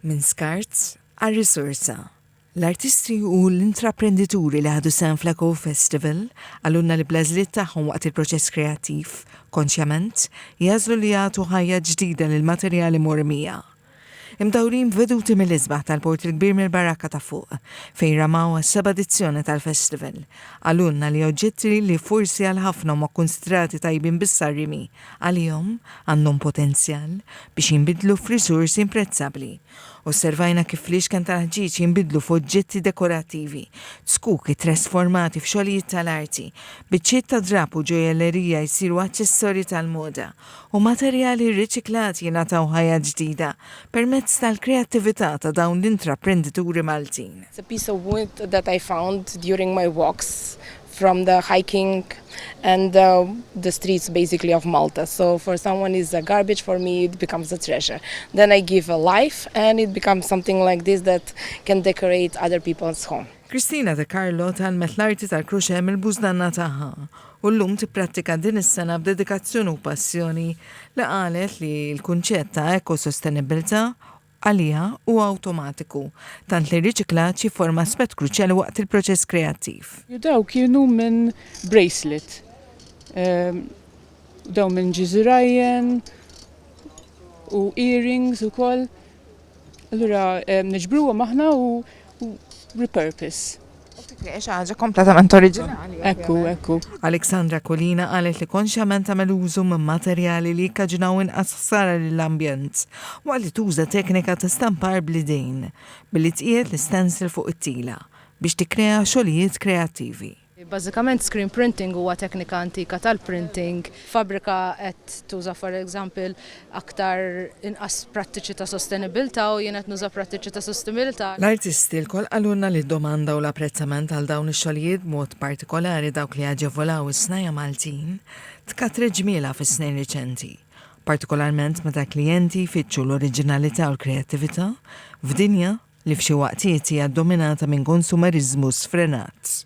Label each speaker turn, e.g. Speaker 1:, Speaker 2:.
Speaker 1: Minn skart għal risorsa. L-artisti u l-intraprendituri li ħadu sehem fl-Ecofestival qalulna li bl-għażliet tagħhom waqt il-proċess kreattiv, konxjament, jagħżlu li jagħtu ħajja ġdida lill-materjali mormija. Imdawrin b'veduti mill-isbaħ tal-Port il-Kbir mill-Baraka ta' Fuq, fejn ramaw għas-seba' edizzjoni tal-festival, qalulna li oġġetti li forsi għal ħafna huma kkunsidrati tajbin biss għar-rimi, għalihom għandhom potenzjal biex jinbidlu f'riżorsi imprezzabbli. Osservajna kif fl-ixken tal-ħġieġ jinbidlu f'oġġetti dekorattivi, zkuk ittrasformati f'xogħlijiet tal-arti, biċċiet ta' drapp u ġojellerija jsiru aċċessorji tal-moda, u materjali rriċiklati jingħataw ħajja ġdida permezz tal-kreattività ta' dawn l-intraprendituri Maltin. It's a piece of wood
Speaker 2: that I found during my walks from the hiking and the, the streets basically of Malta. So for someone is a garbage, for me it becomes a treasure. Then I give a life and it becomes something like this that can decorate other people's home. Kristina De Carlo
Speaker 1: talmet l-arti tal-kruċe mill-bużdanna tagħha u llum tipprattika din is-sena b'dedikazzjoni u passjoni li qalet li l-kunċett ta' ekosostenibilità għaliha huwa awtomatiku, tant li r-riċiklaġġ jifforma aspett kruċjali waqt il-proċess kreattiv. U dawn kienu
Speaker 3: minn Bracelet, u dawn minn Jizzy Ryan, u earrings ukoll. Allura niġbruhom aħna u repurpose. Xi
Speaker 1: ħaġa kompletament oriġinali. Ekku, ekku.
Speaker 3: Alexandra Kulina
Speaker 1: qalet li konxjament tagħmel użu minn materjali li jikkaġinaw inqas ħsara lill-ambjent waqt li tuża teknika ta' stampar bl-idejn billi tqiegħed l-istencil fuq it-tila biex tikkrea xogħlijiet kreattivi. Bażikament screen
Speaker 4: printing huwa teknika antika tal-printing Fabbrika qed tuża for example aktar inqas prattiċi ta' sostenibilità u jien qed nuża prattiċi ta' sostenibilità. L-artisti lkoll
Speaker 1: qalulna li d-domanda u l-apprezzament għal dawn ix-xogħlijiet b'mod partikolari dawk li jaġevolaw is-snajja' Maltin tkatret ġmielha fis-snin riċenti, partikolarment meta l-klijenti jfittxu l-oriġinalità u l-kreattività f'dinja li f'xi waqtiet hija ddominata minn konsumeriżmu sfrenat.